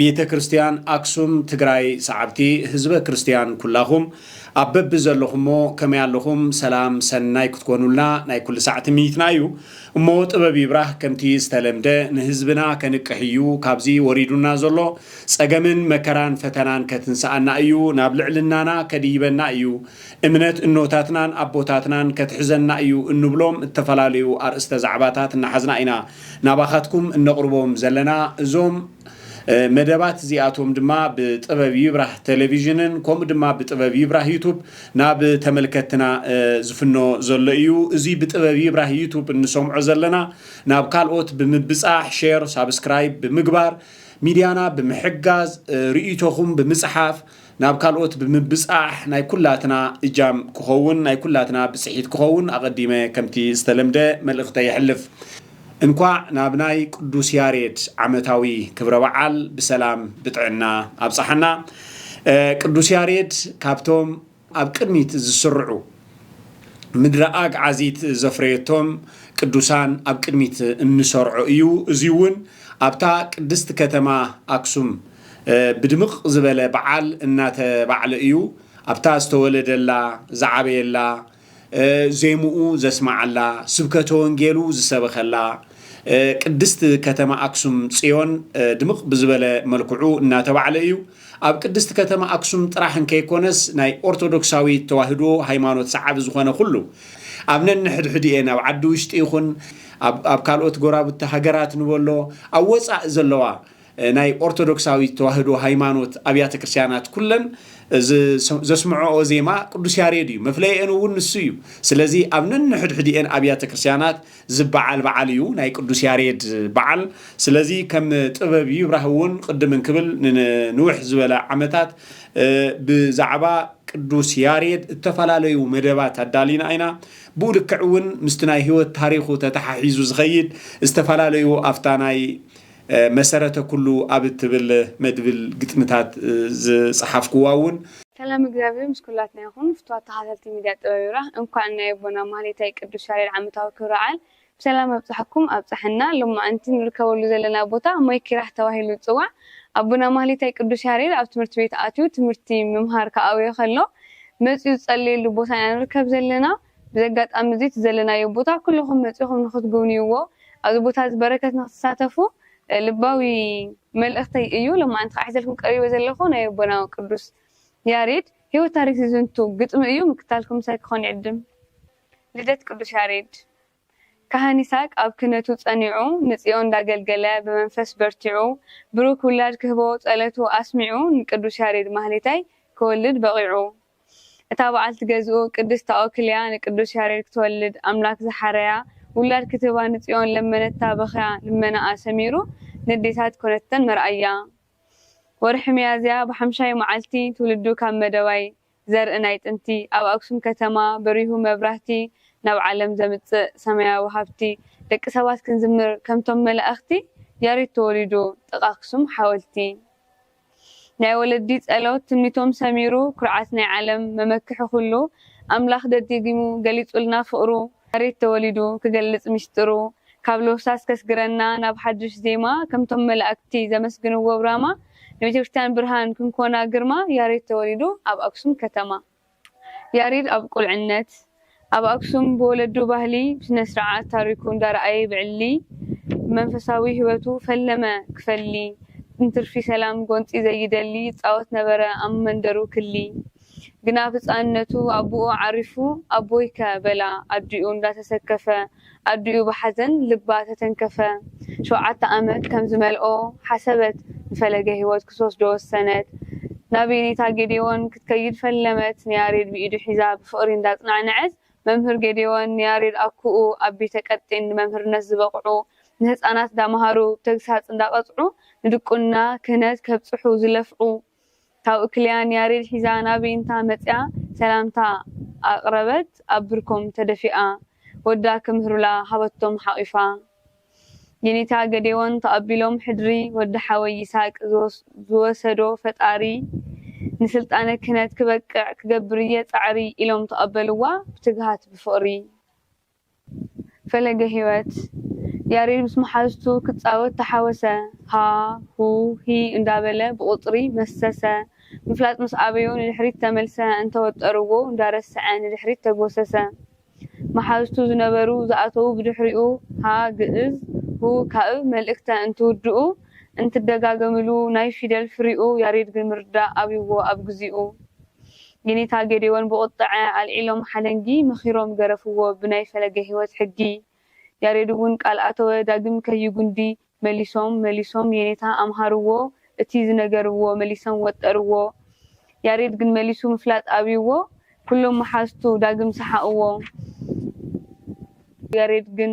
ቤተ ክርስትያን ኣክሱም ትግራይ ሰዓብቲ ህዝበ ክርስትያን ኩላኹም ኣብ በቢ ዘለኹሞ ከመይ ኣለኹም ሰላም ሰናይ ክትኮኑልና ናይ ኩሉ ሳዕ ትምኒትና እዩ እሞ ጥበብ ይብራህ ከምቲ ዝተለምደ ንህዝብና ከንቅሕ እዩ ካብዚ ወሪዱና ዘሎ ጸገምን መከራን ፈተናን ከትንስኣና እዩ ናብ ልዕልናና ከድይበና እዩ እምነት እኖታትናን ኣቦታትናን ከትሕዘና እዩ እንብሎም እተፈላለዩ ኣርእስተ ዛዕባታት እናሓዝና ኢና ናባኻትኩም እነቕርቦም ዘለና እዞም መደባት እዚኣቶም ድማ ብጥበብ ይብራህ ተለቪዥንን ከምኡ ድማ ብጥበብ ይብራህ ዩቱብ ናብ ተመልከትትና ዝፍኖ ዘሎ እዩ። እዙይ ብጥበብ ይብራህ ዩቱብ እንሰምዖ ዘለና ናብ ካልኦት ብምብፃሕ ሼር ሳብስክራይብ ብምግባር ሚድያና ብምሕጋዝ ርእይቶኹም ብምፅሓፍ ናብ ካልኦት ብምብጻሕ ናይ ኩላትና እጃም ክኸውን ናይ ኩላትና ብጽሒት ክኸውን ኣቐዲመ ከምቲ ዝተለምደ መልእኽተይ የሕልፍ። እንኳዕ ናብ ናይ ቅዱስ ያሬድ ዓመታዊ ክብረ በዓል ብሰላም ብጥዕና ኣብጽሓና። ቅዱስ ያሬድ ካብቶም ኣብ ቅድሚት ዝስርዑ፣ ምድረ ኣግዓዚት ዘፍረየቶም ቅዱሳን ኣብ ቅድሚት እንሰርዖ እዩ። እዙይውን ኣብታ ቅድስት ከተማ ኣክሱም ብድምቕ ዝበለ በዓል እናተባዕለ እዩ። ኣብታ ዝተወለደላ፣ ዝዓበየላ፣ ዜምኡ ዘስመዓላ፣ ስብከተ ወንጌሉ ዝሰበኸላ ቅድስት ከተማ ኣክሱም ፅዮን ድምቕ ብዝበለ መልክዑ እናተባዕለ እዩ። ኣብ ቅድስቲ ከተማ ኣክሱም ጥራሕ እንከይኮነስ ናይ ኦርቶዶክሳዊት ተዋህዶ ሃይማኖት ሰዓቢ ዝኾነ ኩሉ ኣብ ነንሕድሕዲኤን ኣብ ዓዲ ውሽጢ ይኹን ኣብ ካልኦት ጎራብቲ ሃገራት ንበሎ ኣብ ወፃእ ዘለዋ ናይ ኦርቶዶክሳዊት ተዋህዶ ሃይማኖት ኣብያተ ክርስቲያናት ኩለን እዚ ዘስምዖኦ ዜማ ቅዱስ ያሬድ እዩ መፍለይኤን እውን ንሱ እዩ ስለዚ ኣብ ነንሕድሕዲኤን ኣብያተ ክርስቲያናት ዝባዓል ባዓል እዩ ናይ ቅዱስ ያሬድ ባዓል ስለዚ ከም ጥበብ ይብራህ እውን ቅድም እንክብል ንንውሕ ዝበለ ዓመታት ብዛዕባ ቅዱስ ያሬድ እተፈላለዩ መደባት ኣዳሊና ኢና ብኡ ልክዕ እውን ምስቲ ናይ ህይወት ታሪኹ ተተሓሒዙ ዝኸይድ ዝተፈላለዩ ኣብታ ናይ መሰረተ ኩሉ ኣብ እትብል መድብል ግጥምታት ዝጸሓፍኩዋ እውን። ሰላም እግዚኣብሔር ምስ ኩላትና ይኹን ፍትዋት ተኻታተልቲ ሚድያ ጥበብ ይብራህ እንኳዕ ናይ ኣቦና ማህሌታይ ቅዱስ ያሬድ ዓመታዊ ክብረ በዓል ብሰላም ኣብፀሐኩም ኣብፀሐና ሎማዓንቲ ንርከበሉ ዘለና ቦታ ማይ ኪራህ ተባሂሉ ዝፅዋዕ ኣቦና ማህሌታይ ቅዱስ ያሬድ ኣብ ትምህርቲ ቤት ኣትዩ ትምህርቲ ምምሃር ክኣውዮ ከሎ መፅዩ ዝፀለየሉ ቦታ ኢና ንርከብ ዘለና በዚ ኣጋጣሚ እዚ እቲ ዘለናዮ ቦታ ኩሉኹም መጺኹም ንኽትጉብንይዎ ኣብዚ ቦታ እዚ በረከት ንኽትሳተፉ ልባዊ መልእኽተይ እዩ። ሎማዓንቲ ኸኣ ሒዘልኩም ቀሪበ ዘለኹ ናይ ኣቦና ቅዱስ ያሬድ ሕይወት ታሪክ ዝዝንቱ ግጥሚ እዩ። ምክታልኩም ምሳይ ክኾን ይዕድም። ልደት ቅዱስ ያሬድ ካህን ይስሃቅ ኣብ ክህነቱ ጸኒዑ ንጽዮን እንዳገልገለ ብመንፈስ በርቲዑ ብሩክ ውላድ ክህቦ ጸለቱ ኣስሚዑ ንቅዱስ ያሬድ ማህሌታይ ክወልድ በቂዑ። እታ በዓልቲ ገዝኡ ቅድስት ኣውክልያ ንቅዱስ ያሬድ ክትወልድ ኣምላክ ዝሓረያ ውላድ ክትህባ ንጽዮን ለመነታ በኽያ ልመናኣ ሰሚሩ ንዴታት ኮነተን መርኣያ ወርሒ ሚያዝያ ብሓምሻይ መዓልቲ ትውልዱ ካብ መደባይ ዘርኢ ናይ ጥንቲ ኣብ ኣክሱም ከተማ በሪሁ መብራህቲ ናብ ዓለም ዘምጽእ ሰማያዊ ሃብቲ ደቂ ሰባት ክንዝምር ከምቶም መላእኽቲ ያሬድ ተወሊዱ ጥቃ ኣክሱም ሓወልቲ ናይ ወለዲ ጸሎት ትምኒቶም ሰሚሩ ኩርዓት ናይ ዓለም መመክሒ ኩሉ ኣምላኽ ደዲጊሙ ገሊጹልና ፍቅሩ መሬት ተወሊዱ ክገልጽ ሚስጥሩ ካብ ሎህሳስ ከስግረና ናብ ሓዱሽ ዜማ ከምቶም መላእክቲ ዘመስግንዎ ብራማ ንቤተክርስትያን ብርሃን ክንኮና ግርማ ያሬድ ተወሊዱ ኣብ ኣክሱም ከተማ ያሬድ ኣብ ቁልዕነት ኣብ ኣክሱም ብወለዱ ባህሊ ብስነስርዓት ታሪኩ እንዳረኣየ ብዕሊ ብመንፈሳዊ ሂወቱ ፈለመ ክፈሊ እንትርፊ ሰላም ጎንፂ ዘይደሊ ይፃወት ነበረ ኣብ መንደሩ ክሊ ግና ኣብ ህፃንነቱ ኣቡኡ ዓሪፉ ኣቦይከ በላ ኣዲኡ እንዳተሰከፈ ኣዲኡ ብሓዘን ልባ ተተንከፈ። ሸውዓተ ዓመት ከም ዝመልኦ ሓሰበት። ንፈለገ ህይወት ክትወስዶ ወሰነት። ናብ የኔታ ጌዴዎን ክትከይድ ፈለመት። ንያሬድ ብኢዱ ሒዛ ብፍቕሪ እንዳጽናዕነዐት መምህር ጌዴዎን ንያሬድ ኣኩኡ ኣብ ቤተ ቀጢን ንመምህርነት ዝበቕዑ ንህጻናት እንዳመሃሩ ብተግሳጽ እንዳቐጽዑ ንድቁና ክህነት ከብጽሑ ዝለፍዑ ካብኡ ክሊያ ንያሬድ ሒዛ ናብ ዊንታ መጺኣ ሰላምታ ኣቕረበት። ኣብ ብርኮም ተደፊኣ ወዳ ክምህሩላ ሃበቶም ሓቒፋ። ዪኒታ ገዴዎን ተቐቢሎም ሕድሪ ወዲ ሓወይ ይስሃቅ ዝወሰዶ ፈጣሪ ንስልጣነ ክህነት ክበቅዕ ክገብር እየ ጻዕሪ ኢሎም ተቐበልዋ ብትግሃት ብፍቕሪ። ፈለገ ህይወት ያሬድ ምስ መሓዙቱ ክጻወት ተሓወሰ ሃ ሁ ሂ እንዳበለ ብቑጽሪ መሰሰ ምፍላጥ ምስ ኣበዮ ንድሕሪት ተመልሰ እንተ ወጠርዎ እንዳረሰዐ ንድሕሪት ተጎሰሰ መሓዙቱ ዝነበሩ ዝኣተዉ ብድሕሪኡ ሃ ግእዝ ሁ ካእ መልእክተ እንትውድኡ እንትደጋገምሉ ናይ ፊደል ፍሪኡ ያሬድ ግን ምርዳእ ኣብዩዎ ኣብ ግዚኡ የኔታ ጌዴዎን ብቁጠዐ ኣልዒሎም ሓለንጊ መኺሮም ገረፍዎ ብናይ ፈለገ ሕይወት ሕጊ ያሬድውን ቃል ኣተወ ዳግም ከይጉንዲ መሊሶም መሊሶም የኔታ ኣምሃርዎ እቲ ዝነገርዎ መሊሰም ወጠርዎ ያሬድ ግን መሊሱ ምፍላጥ ኣብይዎ ኩሎም መሓዝቱ ዳግም ሰሓቕዎ ያሬድ ግን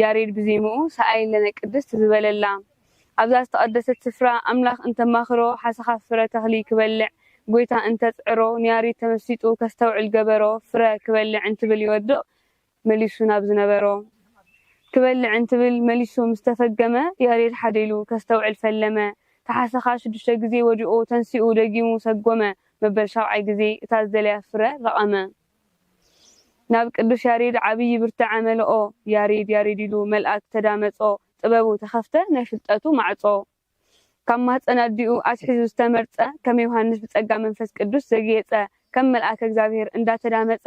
ያሬድ ብዜምኡ ሰኣየለነ ቅድስት ዝበለላ ኣብዛ ዝተቐደሰት ስፍራ ኣምላኽ እንተማኽሮ ሓሰኻ ፍረ ተኽሊ ክበልዕ ጎይታ እንተጽዕሮ ንያሪድ ተመሲጡ ከስተውዕል ገበሮ ፍረ ክበልዕ እንትብል ይወድቕ መሊሱ ናብ ዝነበሮ ክበልዕ እንትብል መሊሱ ምስ ተፈገመ ያሬድ ሓደ ኢሉ ከስተውዕል ፈለመ ተሓሰኻ ሽዱሽተ ግዜ ወዲቑ ተንሲኡ ደጊሙ ሰጎመ መበል ሻብዓይ ግዜ እታ ዝደለያ ፍረ ለቐመ ናብ ቅዱስ ያሬድ ዓብዪ ብርታዐ መልኦ ያሬድ ያሬድ ኢሉ መልኣክ ተዳመጾ ጥበቡ ተኸፍተ ናይ ፍልጠቱ ማዕጾ ካብ ማህጸን ኣዲኡ ኣትሒዙ ዝተመርጸ ከም ዮሃንስ ብጸጋ መንፈስ ቅዱስ ዘግየጸ ከም መልኣከ እግዚኣብሔር እንዳተዳመጸ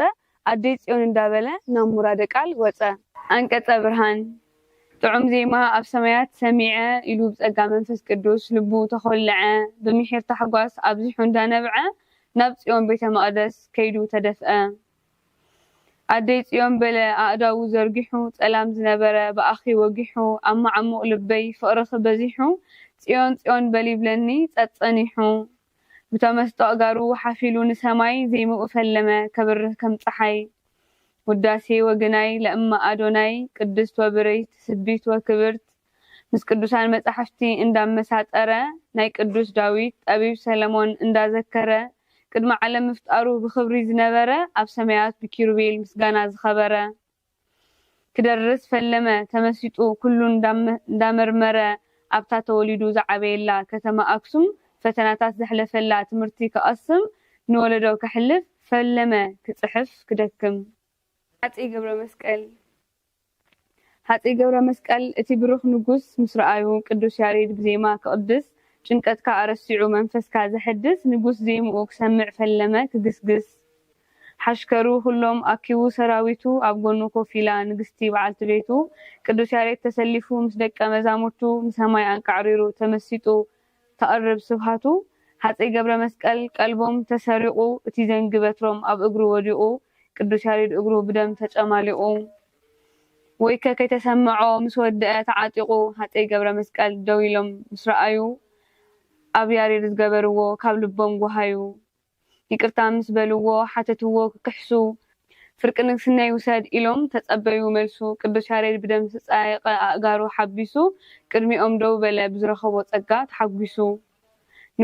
ኣደይ ጽዮን እንዳበለ ናብ ሙራደ ቃል ወጸ ኣንቀጸ ብርሃን ጥዑም ዜማ ኣብ ሰማያት ሰሚዐ ኢሉ ብጸጋ መንፈስ ቅዱስ ልቡ ተኾለዐ ብምሒር ታሕጓስ ኣብዚሑ እንዳነብዐ ናብ ጽዮን ቤተ መቕደስ ከይዱ ተደፍአ። ኣደይ ጽዮን በለ ኣእዳዉ ዘርጊሑ ጸላም ዝነበረ ብኣኺ ወጊሑ ኣብ መዓሙቕ ልበይ ፍቕርኺ በዚሑ ጽዮን ጽዮን በል ይብለኒ ጸጸኒሑ ብተመስጦ ኣእጋሩ ሓፊሉ ንሰማይ ዜምኡ ፈለመ ከብርህ ከም ጸሓይ ውዳሴ ወግናይ ለእመ ኣዶናይ ቅድስት ወብርይት ትስብት ወክብርት ምስ ቅዱሳን መጻሕፍቲ እንዳመሳጠረ፣ ናይ ቅዱስ ዳዊት፣ ጠቢብ ሰለሞን እንዳዘከረ፣ ቅድሚ ዓለም ምፍጣሩ ብኽብሪ ዝነበረ፣ ኣብ ሰማያት ብኪሩቤል ምስጋና ዝኸበረ፣ ክደርስ ፈለመ ተመሲጡ ኩሉ እንዳመርመረ፣ ኣብታ ተወሊዱ ዝዓበየላ ከተማ ኣክሱም ፈተናታት ዘሕለፈላ ትምህርቲ ክቐስም ንወለዶ ከሕልፍ ፈለመ ክጽሕፍ ክደክም። ሃጸይ ገብረመስቀል ሃጸይ ገብረመስቀል እቲ ብሩኽ ንጉስ ምስ ረኣዩ፣ ቅዱስ ያሬድ ብዜማ ክቕድስ፣ ጭንቀትካ ኣረሲዑ መንፈስካ ዘሐድስ ንጉስ ዜምኡ ክሰምዕ ፈለመ ክግስግስ። ሓሽከሩ ኵሎም ኣኪቡ ሰራዊቱ፣ ኣብ ጐኑ ኮፍ ኢላ ንግስቲ በዓልቲ ቤቱ። ቅዱስ ያሬድ ተሰሊፉ ምስ ደቀ መዛሙርቱ፣ ንሰማይ ኣንቃዕሪሩ ተመሲጡ ተቅርብ ስብሃቱ ሃጸይ ገብረመስቀል ቀልቦም ተሰሪቁ እቲ ዘንጊ በትሮም ኣብ እግሩ ወዲቁ ቅዱስ ያሬድ እግሩ ብደም ተጨማሊቁ ወይከ ከይተሰመዖ ምስ ወደኣ ተዓጢቁ ሃጸይ ገብረመስቀል ደው ኢሎም ምስ ረኣዩ ኣብ ያሬድ ዝገበርዎ ካብ ልቦም ጎሃዩ ይቅርታ ምስ በልዎ ሓተትዎ ክክሕሱ ፍርቂ ንግስነይ ውሰድ ኢሎም ተጸበዩ መልሱ ቅዱስ ያሬድ ብደም ዝተጻየቀ ኣእጋሩ ሓቢሱ ቅድሚኦም ደው በለ ብዝረኸቦ ጸጋ ተሓጒሱ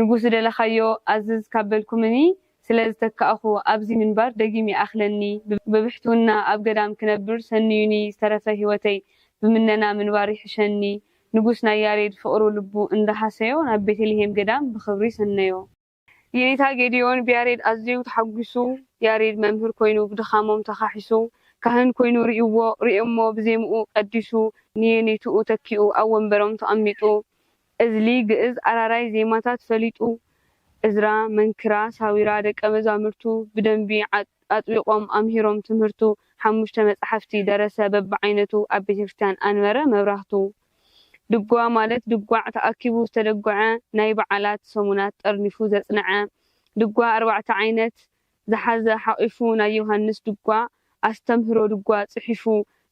ንጉስ ዝደለኻዮ ኣዝዝ ካብ በልኩምኒ ስለ ዝተካእኹ ኣብዚ ምንባር ደጊም ይኣኽለኒ ብብሕትውና ኣብ ገዳም ክነብር ሰንዩኒ ዝተረፈ ሕይወተይ ብምነና ምንባር ይሕሸኒ ንጉስ ናይ ያሬድ ፍቅሩ ልቡ እንዳ ሃሰዮ ናብ ቤተልሔም ገዳም ብኽብሪ ሰነዮ። የኔታ ጌዲዮን ብያሬድ ኣዝዩ ተሓጒሱ ያሬድ መምህር ኮይኑ ብድኻሞም ተኻሒሱ ካህን ኮይኑ ሪኡዎ ሪኦሞ ብዜምኡ ቀዲሱ ንየኔትኡ ተኪኡ ኣብ ወንበሮም ተቐሚጡ እዝሊ ግእዝ ኣራራይ ዜማታት ፈሊጡ እዝራ መንክራ ሳዊራ ደቀ መዛምርቱ ብደንቢ ኣጥቢቖም ኣምሂሮም ትምህርቱ ሓሙሽተ መጻሕፍቲ ደረሰ በብዓይነቱ ኣብ ቤተክርስትያን ኣንበረ መብራህቱ ድጓ ማለት ድጓዕ ተኣኪቡ ዝተደጎዐ ናይ በዓላት ሰሙናት ጠርኒፉ ዘጽነዐ ድጓ ኣርባዕተ ዓይነት ዝሓዘ ሓቒፉ ናይ ዮሃንስ ድጓ ኣስተምህሮ ድጓ ጽሒፉ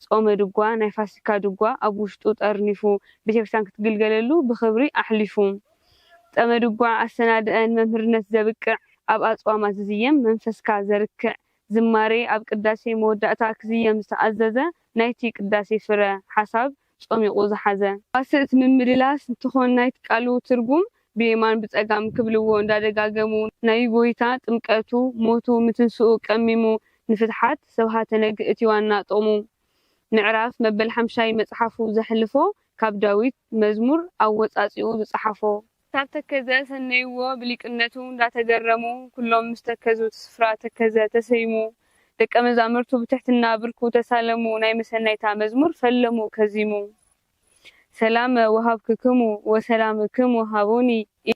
ጾመ ድጓ ናይ ፋሲካ ድጓ ኣብ ውሽጡ ጠርኒፉ ቤተክርስትያን ክትግልገለሉ ብኽብሪ ኣሕሊፉ ጸመ ድጓ ኣሰናድኧ ንመምህርነት ዘብቅዕ ኣብ ኣጽዋማት ዝዝየም መንፈስካ ዘርክዕ ዝማሬ ኣብ ቅዳሴ መወዳእታ ክዝየም ዝተኣዘዘ ናይቲ ቅዳሴ ፍረ፣ ሓሳብ፣ ጾሚቑ ዝሓዘ። ተዋስእት ምምልላስ እንትኾን ናይቲ ቃሉ ትርጉም ብየማን ብጸጋም ክብልዎ እንዳደጋገሙ ናይ ጎይታ ጥምቀቱ፣ ሞቱ፣ ምትንስኡ ቀሚሙ ንፍትሓት ሰብሃተ ነግ እቲ ዋና ጥቕሙ። ምዕራፍ መበል ሓምሻይ መጽሓፉ ዘሕልፎ ካብ ዳዊት መዝሙር ኣወጻጺኡ ዝጸሓፎ። ክሳብ ተከዘ ሰነይዎ ብሊቅነቱ እንዳተገረሙ ኩሎም ምስ ተከዙ እቲ ስፍራ ተከዘ ተሰይሙ ደቀ መዛምርቱ ብትሕትና ብርኩ ተሳለሙ ናይ መሰናይታ መዝሙር ፈለሙ ከዚሙ ሰላመ ወሀብክክሙ ወሰላምክሙ ሀቡኒ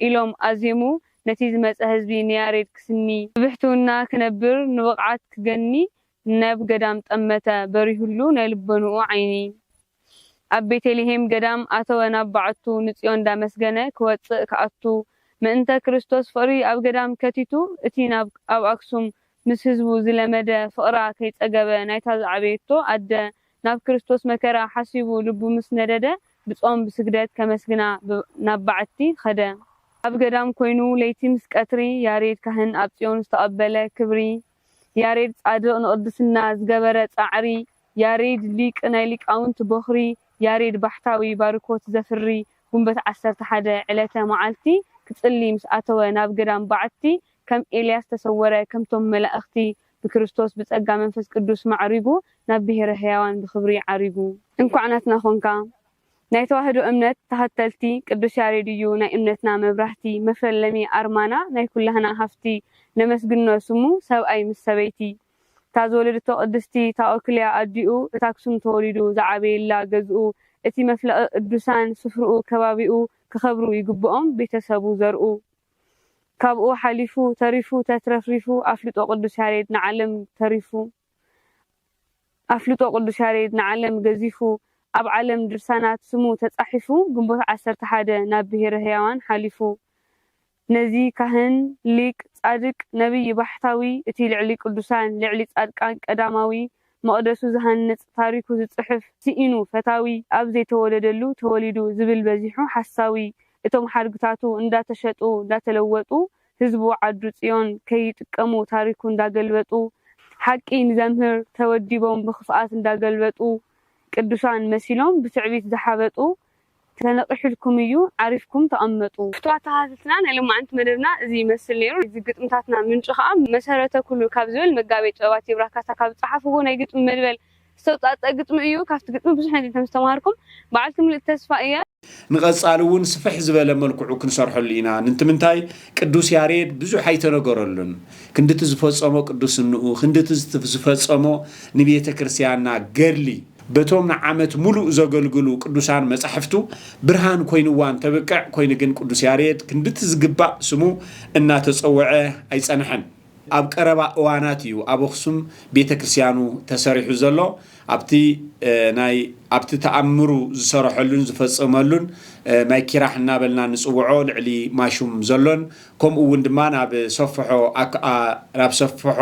ኢሎም ኣዜሙ ነቲ ዝመጸ ህዝቢ ንያሬድ ክስኒ ብብሕትውና ክነብር ንብቕዓት ክገኒ ናብ ገዳም ጠመተ በሪሁሉ ናይ ልቦንኡ ዓይኒ። ኣብ ቤቴልሄም ገዳም ኣተወ ናብ ባዐቱ ንጽዮን ዳመስገነ ክወጽእ ክኣቱ ምእንተ ክርስቶስ ፍቅሪ ኣብ ገዳም ከቲቱ እቲ ናብ ኣብ ኣክሱም ምስ ህዝቡ ዝለመደ ፍቅራ ከይጸገበ ናይታ ዝዓበየቶ ኣደ ናብ ክርስቶስ መከራ ሓሲቡ ልቡ ምስ ነደደ ብጾም ብስግደት ከመስግና ናብ ባዐቲ ከደ ኣብ ገዳም ኮይኑ ለይቲ ምስ ቀትሪ ያሬድ ካህን ኣብ ጽዮን ዝተቀበለ ክብሪ ያሬድ ጻድቕ ንቕድስና ዝገበረ ጻዕሪ ያሬድ ሊቅ ናይ ሊቃውንት ቦኽሪ ያሬድ ባሕታዊ ባርኮት ዘፍሪ ጉንበት ዓሰርተ ሓደ ዕለተ መዓልቲ ክጽሊ ምስ ኣተወ ናብ ገዳም በዓቲ ከም ኤልያስ ተሰወረ ከምቶም መላእኽቲ ብክርስቶስ ብጸጋ መንፈስ ቅዱስ ማዕሪጉ ናብ ብሔረ ሕያዋን ብኽብሪ ዓሪጉ። እንኳዕ ናትና ኾንካ ናይ ተዋህዶ እምነት ተኸተልቲ ቅዱስ ያሬድ እዩ ናይ እምነትና መብራህቲ መፈለሚ ኣርማና ናይ ኩላህና ሃፍቲ ነመስግኖ ስሙ ሰብኣይ ምስ ሰበይቲ እታ ዝወለደቶ ቅድስቲ ታኦክልያ ኣዲኡ እታ ኣክሱም ተወሊዱ ዝዓበየላ ገዝኡ እቲ መፍለቒ ቅዱሳን ስፍርኡ ከባቢኡ ክኸብሩ ይግብኦም ቤተሰቡ ዘርኡ ካብኡ ሓሊፉ ተሪፉ ተትረፍሪፉ ኣፍልጦ ቅዱስ ያሬድ ንዓለም ተሪፉ ኣፍልጦ ቅዱስ ያሬድ ንዓለም ገዚፉ ኣብ ዓለም ድርሳናት ስሙ ተጻሒፉ ግንቦት ዓሰርተ ሓደ ናብ ብሄረ ህያዋን ሓሊፉ ነዚ ካህን ሊቅ ጻድቅ ነብይ ባሕታዊ እቲ ልዕሊ ቅዱሳን ልዕሊ ጻድቃን ቀዳማዊ መቕደሱ ዝሃንጽ ታሪኩ ዝጽሕፍ ስኢኑ ፈታዊ ኣብ ዘይተወለደሉ ተወሊዱ ዝብል በዚሑ ሓሳዊ እቶም ሓድግታቱ እንዳተሸጡ እንዳተለወጡ ህዝቡ ዓዱ ፅዮን ከይጥቀሙ ታሪኩ እንዳገልበጡ ሓቂ ንዘምህር ተወዲቦም ብክፍኣት እንዳገልበጡ ቅዱሳን መሲሎም ብትዕቢት ዝሓበጡ ተነቂሑልኩም እዩ ዓሪፍኩም ተቀመጡ። ፍትዋት ተከታተልትና ናይ ሎማዓንቲ መደብና እዚ ይመስል ነይሩ። ናይዚ ግጥምታትና ምንጪ ከኣ መሰረተ ኩሉ ካብ ዝብል መጋቤ ጥበባት ይብራህ ካሳ ካብ ዝጸሓፍዎ ናይ ግጥሚ መድበል ዝተውጻእጸኣ ግጥሚ እዩ። ካብቲ ግጥሚ ብዙሕ ነገር ከምዝተማሃርኩም በዓልቲ ምሉእ ተስፋ እየ። ንቐፃሊ እውን ስፍሕ ዝበለ መልክዑ ክንሰርሐሉ ኢና ንንትምንታይ ቅዱስ ያሬድ ብዙሕ ኣይተነገረሉን ክንድቲ ዝፈፀሞ ቅዱስንኡ ክንድቲ ዝፈፀሞ ንቤተ ክርስቲያንና ገድሊ በቶም ንዓመት ሙሉእ ዘገልግሉ ቅዱሳን መፃሕፍቱ ብርሃን ኮይንዋ እንተብቅዕ ኮይኑ ግን ቅዱስ ያሬድ ክንድቲ ዝግባእ ስሙ እናተፀወዐ ኣይፀንሐን ኣብ ቀረባ እዋናት እዩ ኣብ ኣኽሱም ቤተ ክርስቲያኑ ተሰሪሑ ዘሎ። ኣብቲ ናይ ኣብቲ ተኣምሩ ዝሰረሐሉን ዝፈጸመሉን ማይ ኪራሕ እናበልና ንጽውዖ ልዕሊ ማሹም ዘሎን ከምኡ እውን ድማ ናብ ሰፍሖ ናብ ሰፍሖ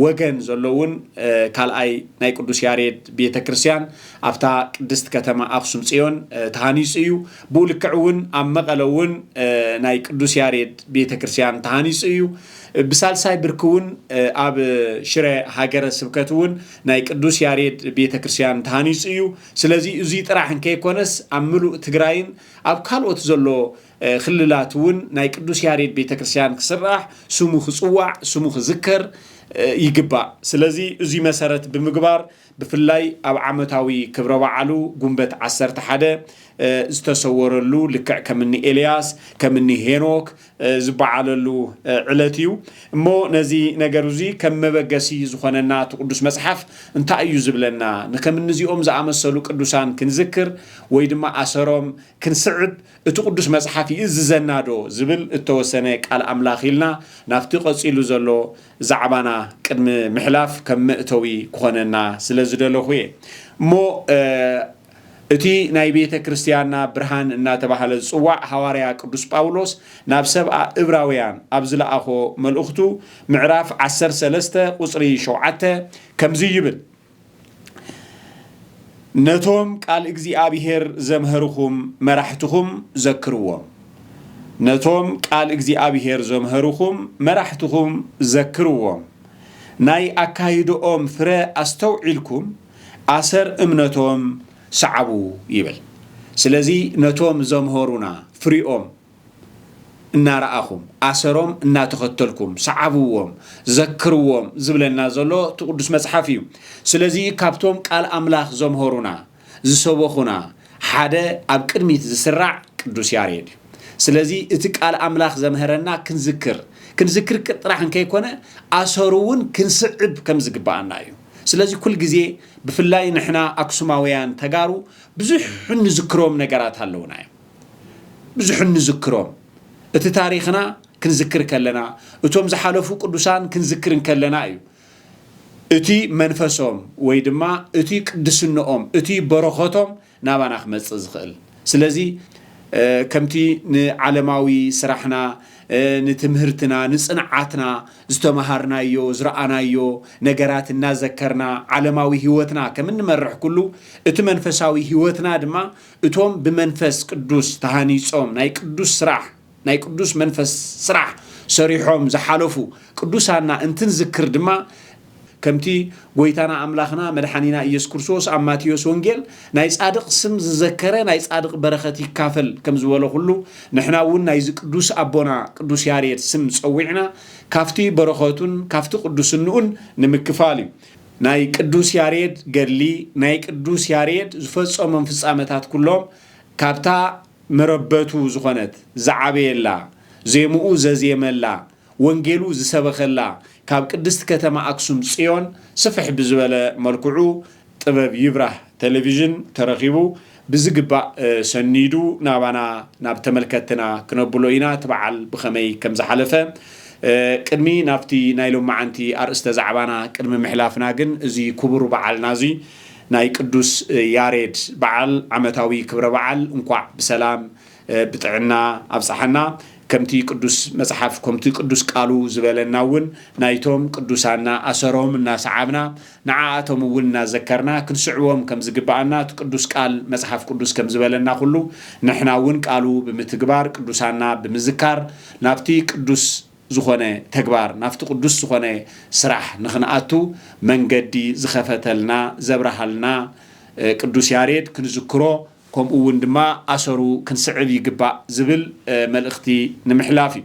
ወገን ዘሎ እውን ካልኣይ ናይ ቅዱስ ያሬድ ቤተ ክርስቲያን ኣብታ ቅድስት ከተማ ኣኽሱም ጽዮን ተሃኒጹ እዩ። ብኡ ልክዕ እውን ኣብ መቐለ እውን ናይ ቅዱስ ያሬድ ቤተ ክርስቲያን ተሃኒጹ እዩ። ብሳልሳይ ብርኪ እውን ኣብ ሽረ ሃገረ ስብከት እውን ናይ ቅዱስ ያሬድ ቤተ ክርስቲያን ተሃኒፁ እዩ። ስለዚ እዙይ ጥራሕ እንከይኮነስ ኣብ ምሉእ ትግራይን ኣብ ካልኦት ዘሎ ክልላት እውን ናይ ቅዱስ ያሬድ ቤተ ክርስቲያን ክስራሕ፣ ስሙ ክፅዋዕ፣ ስሙ ክዝከር ይግባእ። ስለዚ እዙይ መሰረት ብምግባር ብፍላይ ኣብ ዓመታዊ ክብረ በዓሉ ጉንበት ዓሰርተ ሓደ ዝተሰወረሉ ልክዕ ከም እኒ ኤልያስ ከም እኒ ሄኖክ ዝበዓለሉ ዕለት እዩ እሞ ነዚ ነገር እዙይ ከም መበገሲ ዝኾነና እቲ ቅዱስ መጽሓፍ እንታይ እዩ ዝብለና ንከም እንዚኦም ዝኣመሰሉ ቅዱሳን ክንዝክር ወይ ድማ ኣሰሮም ክንስዕብ እቲ ቅዱስ መጽሓፍ ይእዝዘና ዶ ዝብል እተወሰነ ቃል ኣምላኽ ኢልና ናብቲ ቀጺሉ ዘሎ ዛዕባና ቅድሚ ምሕላፍ ከም መእተዊ ክኾነና ስለ ዝደለኹ እየ። እሞ እቲ ናይ ቤተ ክርስትያንና ብርሃን እናተባህለ ዝጽዋዕ ሃዋርያ ቅዱስ ጳውሎስ ናብ ሰብኣ እብራውያን ኣብ ዝለኣኾ መልእኽቱ ምዕራፍ ዓሰርተ ሰለስተ ቁጽሪ ሸውዓተ ከምዚ ይብል ነቶም ቃል እግዚኣብሄር ዘምሀርኹም መራሕትኹም ዘክርዎም። ነቶም ቃል እግዚኣብሄር ዘምሀርኹም መራሕትኹም ዘክርዎም። ናይ ኣካይድኦም ፍረ ኣስተውዒልኩም ኣሰር እምነቶም ስዓቡ ይብል። ስለዚ ነቶም ዘምሀሩና ፍሪኦም። እናረኣኹም፣ ኣሰሮም እናተኸተልኩም ሰዓብዎም፣ ዘክርዎም ዝብለና ዘሎ እቲ ቅዱስ መጽሓፍ እዩ። ስለዚ ካብቶም ቃል ኣምላኽ ዘምሀሩና፣ ዝሰበኹና ሓደ ኣብ ቅድሚት ዝስራዕ ቅዱስ ያሬድ እዩ። ስለዚ እቲ ቃል ኣምላኽ ዘምሀረና ክንዝክር፣ ክንዝክር ጥራሕ እንከይኮነ ኣሰሩ እውን ክንስዕብ ከም ዝግብኣና እዩ። ስለዚ ኩል ግዜ ብፍላይ ንሕና ኣክሱማውያን ተጋሩ ብዙሕ እንዝክሮም ነገራት ኣለውና እዮም። ብዙሕ እንዝክሮም እቲ ታሪኽና ክንዝክር ከለና እቶም ዝሓለፉ ቅዱሳን ክንዝክር እንከለና እዩ እቲ መንፈሶም ወይ ድማ እቲ ቅድስንኦም እቲ በረኸቶም ናባና ክመፅእ ዝኽእል ስለዚ ከምቲ ንዓለማዊ ስራሕና ንትምህርትና ንፅንዓትና ዝተምሃርናዮ ዝረኣናዮ ነገራት እናዘከርና ዓለማዊ ህይወትና ከም እንመርሕ ኩሉ እቲ መንፈሳዊ ህይወትና ድማ እቶም ብመንፈስ ቅዱስ ተሃኒጾም ናይ ቅዱስ ስራሕ ናይ ቅዱስ መንፈስ ስራሕ ሰሪሖም ዝሓለፉ ቅዱሳና እንትንዝክር ድማ ከምቲ ጎይታና ኣምላኽና መድሓኒና ኢየሱስ ክርስቶስ ኣብ ማቴዎስ ወንጌል ናይ ጻድቕ ስም ዝዘከረ ናይ ጻድቕ በረኸት ይካፈል ከም ዝበሎ ኩሉ ንሕና እውን ናይዚ ቅዱስ ኣቦና ቅዱስ ያሬድ ስም ጸዊዕና ካብቲ በረኸቱን ካብቲ ቅዱስንኡን ንምክፋል እዩ ናይ ቅዱስ ያሬድ ገድሊ፣ ናይ ቅዱስ ያሬድ ዝፈጸሞም ፍጻመታት ኩሎም ካብታ መረበቱ ዝኾነት፣ ዝዓበየላ፣ ዜምኡ ዘዜመላ፣ ወንጌሉ ዝሰበኸላ ካብ ቅድስቲ ከተማ ኣክሱም ጽዮን ስፍሕ ብዝበለ መልክዑ ጥበብ ይብራህ ተለቪዥን ተረኪቡ ብዝግባእ ሰኒዱ ናባና ናብ ተመልከትትና ክነብሎ ኢና እቲ በዓል ብኸመይ ከም ዝሓለፈ። ቅድሚ ናብቲ ናይ ሎምዓንቲ ኣርእስተ ዛዕባና ቅድሚ ምሕላፍና ግን እዚ ኩቡር በዓልና እዚ ናይ ቅዱስ ያሬድ በዓል ዓመታዊ ክብረ በዓል እንኳዕ ብሰላም ብጥዕና ኣብፀሐና ከምቲ ቅዱስ መፅሓፍ ከምቲ ቅዱስ ቃሉ ዝበለና እውን ናይቶም ቅዱሳና ኣሰሮም እናሰዓብና ንዓኣቶም እውን እናዘከርና ክንስዕቦም ከም ዝግብኣና እቲ ቅዱስ ቃል መጽሓፍ ቅዱስ ከም ዝበለና ዅሉ ንሕና እውን ቃሉ ብምትግባር ቅዱሳና ብምዝካር ናብቲ ቅዱስ ዝዀነ ተግባር ናብቲ ቅዱስ ዝዀነ ስራሕ ንኽንኣቱ መንገዲ ዝኸፈተልና ዘብርሃልና ቅዱስ ያሬድ ክንዝክሮ ከምኡ እውን ድማ ኣሰሩ ክንስዕብ ይግባእ ዝብል መልእኽቲ ንምሕላፍ እዩ።